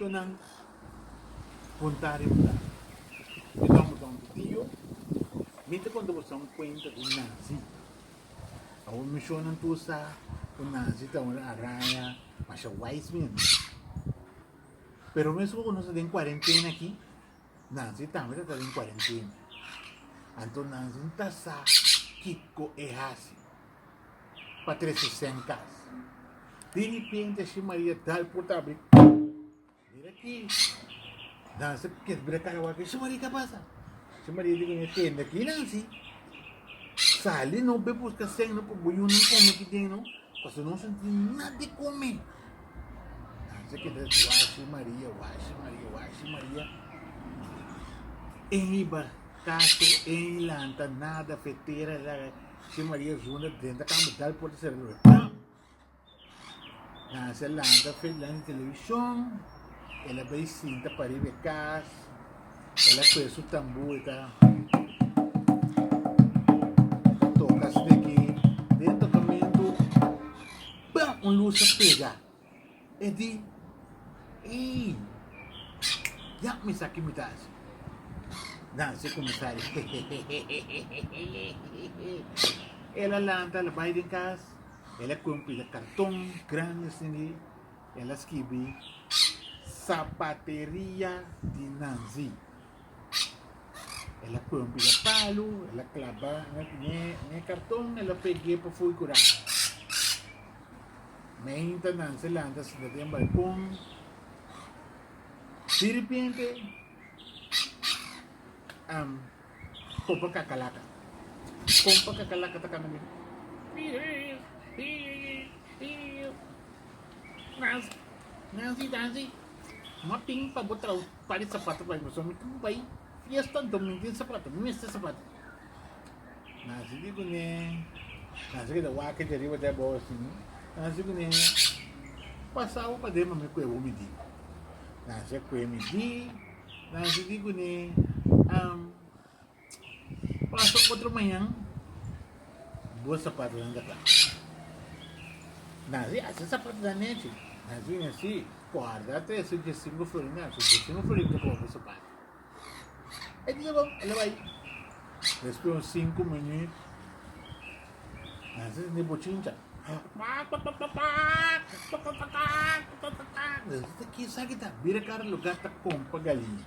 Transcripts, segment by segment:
Te nan konta riba nan. Mi ta un boton titio. Mi ta konta boso un kuenta di un nazi. Awor mi shon nan tur sa ku nazi ta un araya masha wais mi ami. Pero mesun ku nos ta den kuarentena aki, nazi tambe ta ta den kuarentena. Anto nazi no ta sa kiko e hasi. pa tres e sèn kas. Di ripenti así Maria da e porta abri, Mira aki! Nan sa kies bira kara wak. Shi Maria, ke a pasa? Shi Maria di kuné, Tenda aki nan si. Sali no bai buska sèn no pa bo yunan kome aki den no, pasobra no sinti nada di kome. Nan sa keda washi Maria, washi Maria, washi Maria. E hiba kaso, e hilanta, nada, fetera, laga. Che Maria zona drenta kamba dal puerta sera lura pam Nancy a lanta fe delante television el a bay sinta pariba e kas el a coge su tambu e ta toka su de aquí den tocamento pam un luz a pega E di, Ei, ya misa ki mi ta hasi. Dansa e kuminsá ri hehehehehehehehe. El a lanta, el a bai den kas, el a kue un pila karton grandi asin'di, el a skibi, Sapateria di Nanzi. El a pon pida palu, el a claba ne carton, el a pegue pa fui cura. Meinta nan se lanta sinta den balcon. De repente, um, pompa cacalaca. Pompa cacalaca ta canta bien. Nancy, Nancy, no ting pa botrau. Par di sapato pa mi pasobra mi tin ku bai fiesta anto mi tin sapato mi mester sapato nan si di kuné nan si ke ta wak di ariba te abou asin nan si kuné pasabo paden pa mi kue bo mi di nan si a kue mi di nan si di kuné am Pasa otro mañan, bo sapatonan ta kla. Nan si hasi sapatonan nechi, nan si wen si, kòrda te su diesinbo florinan, su diesinbo florinan ta koba bo sapato. E bisa bo, e lo bai. Despues un sinku minui, nan si sinti bochincha, kakakakak, kakakakak, kakakakak, nan si sinti kisa kita, bira kara lugar ta kompa galiña.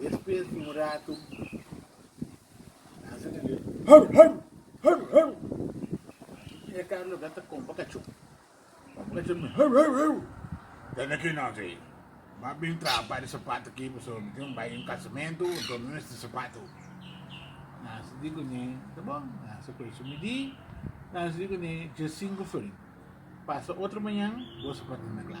Despues di un ratu Nancy ta di hau hau hau hau i e Carlo ta ta kompa kachon. Kompa kachon mi hau hau hau ta na ki Nancy. M'a bin traha un par di sapat aki pasobra mi tin bai un kasamento anto mi mester sapato. Nancy di kune ta bon. Nancy kore su midi. Nancy di kune dje sinku feri pasa otro mañan bo sapato ta na kla.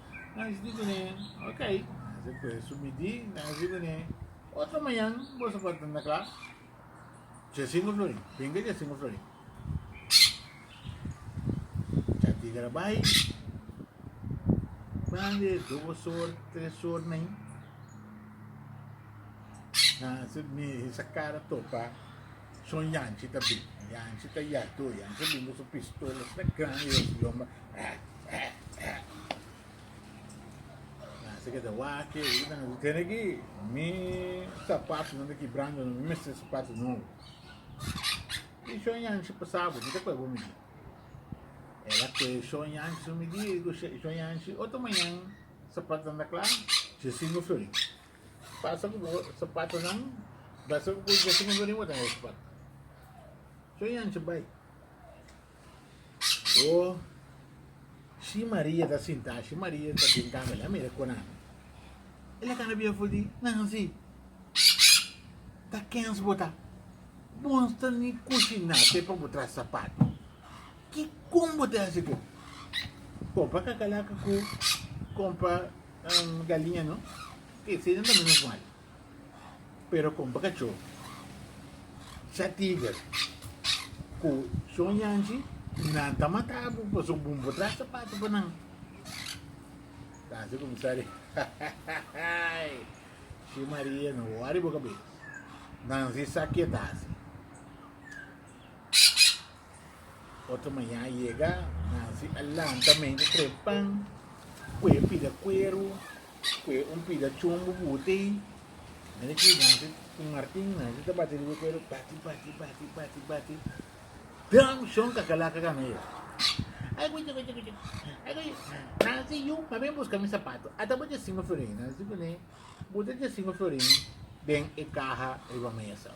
Nasi di kuné, ok, nasi kue su midí, nasi di kuné, otro mañan boso por ta na klas. Djasimbru flori, binga djasimbru flori. Chatiga ta bai, bande dos or, tres or na i. Nasi mi sa kara topa. son yanchi ta bin yanchi ta yato yanchi a bin ku su pistola asina gran riba su lomba eh eh eh nan si keda waki e kita nan si tene ki mi sapatu nan ta kibrando mi mester sapatu nobo i son yanchi pasabo kita kue bo mi di el a kue son yanchi su mi di son yanchi otro mañan sapatu nan ta kla si singu florin Pasa ku bo sapatunan basa ku Dios a manda riba den e sapatu. Cho yanchi bai. Bo shi Maria ta sintá, shi Maria ta den kama, el a mira kona mi. El a kana bia for di, Nancy, ta kens bo ta? Bon sta ni kushiná te pa bo traha sapatu. Kikon bo ta hasi ke? Kompa kakalaka ku kompa Um galiña no e seden ta menos mal. Pero con bacachó, cha tiger, cu son yanchi, nan ta matabo, pa su bun por trae zapato pa nan. Casi como sale, si Maria no wari boca bes, nan si saquetasi. Otro maña a yega, Nancy a lanta men cu tres pan, cu e pida cuero, cu e un pida chumbo bute. Mira ki Nancy cu Martin, Nancy ta bati riba cuero, bati, bati, bati, bati, bati. Dam shon cacalaca gana yega. Ay, cu chico, chico, chico. Ay, cu chico. Nancy, yu, ma ben busca mi zapato. Ata bo Jacingo Florin. Nancy cu ne, bute Jacingo Florin den e caja riba mesa.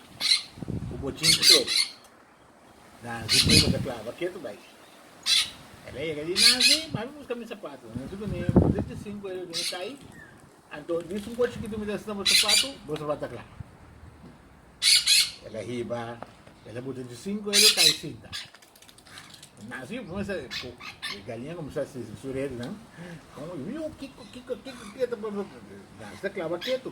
ku bo chinchi tur. Nansi pone bo ta klaba ketu bai. El a yega di Nansi, bai bo buska mi sapatu. Nansi kuné bo desdi e sinku ora duna kai, anto di sumpo chikitu mi ta hasi na bo sapatu, bo sa bata klaba. El a hiba, el a buta e sinku ora kai sinta. Nansi kuminsha, e galiña kuminsha hasi su redenan, miu kiko kiko kiko kiko ta pasa. Nansi ta klaba ketu.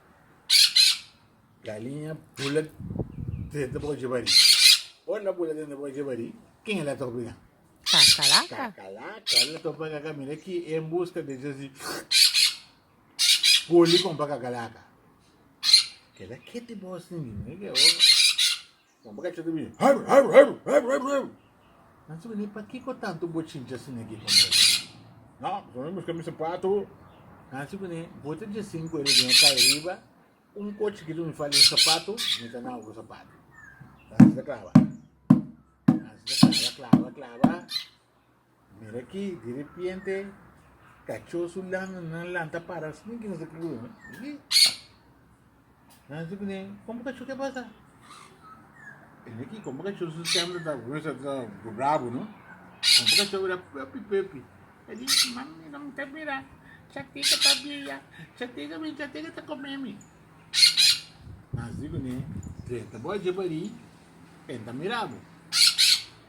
Galiña bula dente boca dje barí. Ora na bula dente boca dje barí, ken el a ta obliga? Kakalaka. Kakalaka. El a ta obliga camina ki en busca de dje si poli con pa kakalaka. Keda kete bos niño. Nan por cacha ta bini hurr, hurr, hurr, hurr, hurr, hurr. Nan sibi ni pakico tanto bochincha asina aki conversa. No, pasobra mi a busca mi sapato. Nan sibi ni bo ta dje cinco ora di nochi cay riba un cochi ki dun fali un sapato, mi ta na otro sapato. Nan asina claba. Nan asina claba, claba, claba. Mira aki, di repiente kachó su langanan lanta para asina ki nos a kiri oye. Aki, nan si kuné, kon bo kachó ke pasa? Mira aki, kon bo kachó su stem ta brabo, no? Kon bo kachó bira pepi pepi. E di, mami, no ta bira, Chateca ta bia, Chateca bin, Chateca ta komé mi. Nan si kuné, drenta bo a dje barí, e ta mira bo.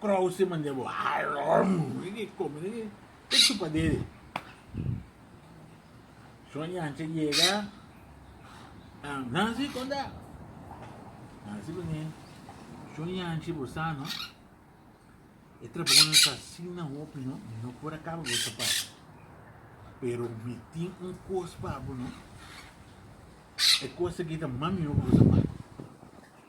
Krause manera bo harom riki come riki e chupa deri son yancha yega am Nancy konda Nancy bini son yanchi bo sa no e trabaho no ta asina hopi no mi no por a kaba bo sapat pero mi tin un kos pa bo no e kos aki ta mami hopi bo sapat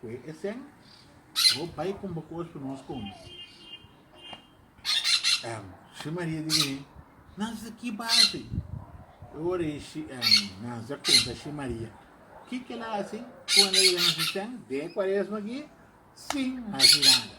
Cu e esen bo bay con bo cos pa nos come. Em, si Maria di bini, nan sa ki base. E ora e si, em, nan sa conta si Maria. Ki que la hace cuando llega nos esen de cuaresma aquí sin hace nada.